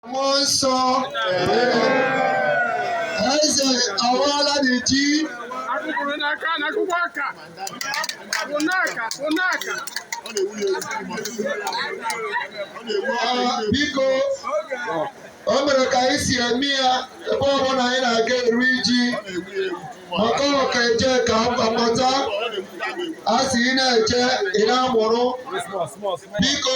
Mmụọ nsọ eze awaala anyị ji Akụkụrụ n'aka na akwụkwọ aka. Bụ n'aka, bụ n'aka. Ah, biko o mere ka anyị si eme ya ebe ọbụla anyị na-aga eri ji maka ọka eje ka mgbakọta a si ị na-eje ị na-amụrụ biko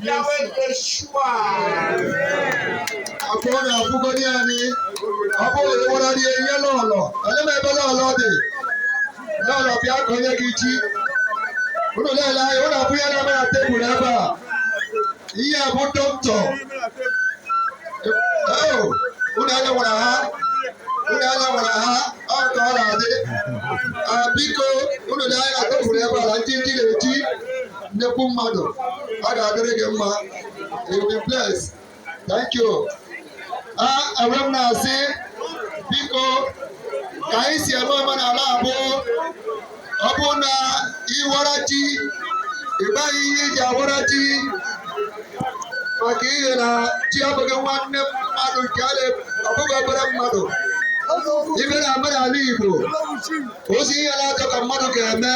bịawa Yeshua akwa ọ na-akwụgodi anyị ọ bụrụ na ịwara rie ihe n'ụlọ onye ma ebe n'ụlọ dị n'ụlọ bịa ka onye gị chi ụnụ na-ele anya ụnụ abụ ya na-eme na tebụl ebe a ihe a bụ dọkịta ụnụ anya nwara ha ụnụ anya nwara ha ọ ka ọ na-adị biko ụnụ na-anya tebụl ebe a na ndị ndị na-eti nnekwu mmadụ ọ ga-adịrị gị mma you be blessed thank you a enwe m na-asị biko ka anyị si eme omenala Igbo ọ bụ na ịwara ji ịgbaghị ihe e ji awara ji maka ihe na ji abụghị nwanne mmadụ nke a na- ọ bụghị obere mmadụ ebe na omenala Igbo ozi ihe naatọ ka mmadụ ga-eme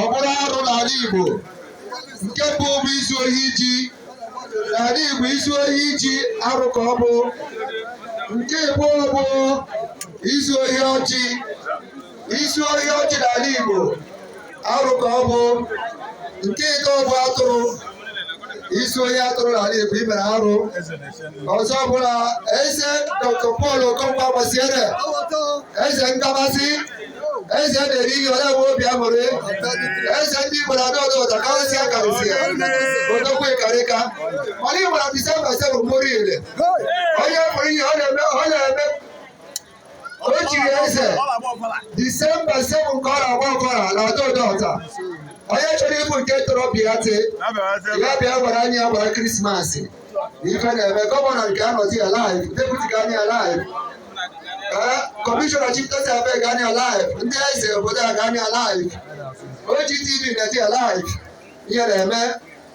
ọ bụrụ arụ n'ala Igbo nke mbụ bụ izu ohi ji n'ala Igbo izu ohi ji arụ ka ọ bụ nke abụọ bụ izu ohi ọjị izu ohi ọjị n'ala Igbo arụ ka ọ bụ nke atọ bụ atụrụ i zuo ohi atụrụ n'ala Igbo i mere arụ ọzọ bụ na eze Dr. Paul Okonkwo gbasiere eze nkabasị eze na-eri ihe ole nwe obi aṅụrị eze ndị Igbo na Ado-Odo Ota karịsịa akarịsịa odogwu ịkarịka mana Igbo na Disemba ise bụ mgbụrụ ile onye pụrụ ihe ọ na-eme ọ na-eme o chiri eze disemba 7 nke ọ na-agba ọkọra na Ado-Odo Ota onye chọrọ ịbụ nke tọrọ bịa tee ya bịa gwara anyị ya gbara krismas ife na-eme gọvanọ ga-anọzi live deputi ga-anọ ya live kọmishọna chieftaincy affairs ga-anọ ya live ndị eze obodo a ga-anọ ya live OGTV ga-adị live ihe na-eme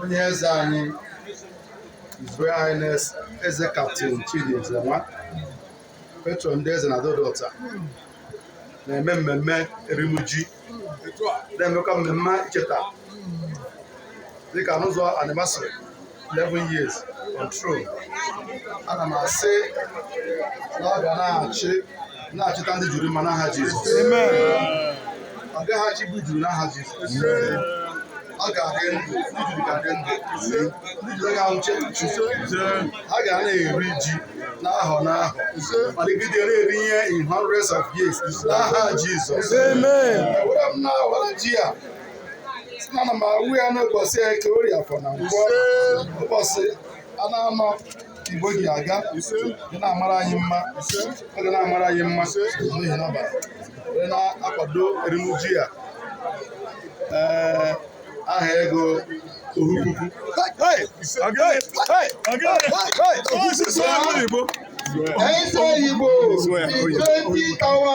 onye eze anyị His Royal Highness Eze Captain Chidi Ezenwa patron ndị eze na Ado-Odo Ota na-eme mmemme erim ji na-emekwa mmemme icheta dịka n'ụzọ anyị masịrị 11 years control ana m asị na ọ ga na-achị na-achịta ndị juru mma n'aha Jizọs ọ gaghị achịgbu juru n'aha Jizọs ọ ga-adị ndụ ndị juru ga-adị ndụ ndị juru aga anwụchu ha ga na-eri ji n'ahọ n'ahọ malite na-eri ihe in hundreds of years n'aha Jizọs Amen. Ewere m na were ji a ana m awụ ya n'ụbọchị Eke Orie Afọ na Nkwọ ụbọchị naanọ Igbo ji aga ga na-amara anyị mma ọ ga na-amara anyị mma n'ihi na wee na-akwado erimuji ya ee aha ego ohu puku Eze Igbo, Igbo Tawa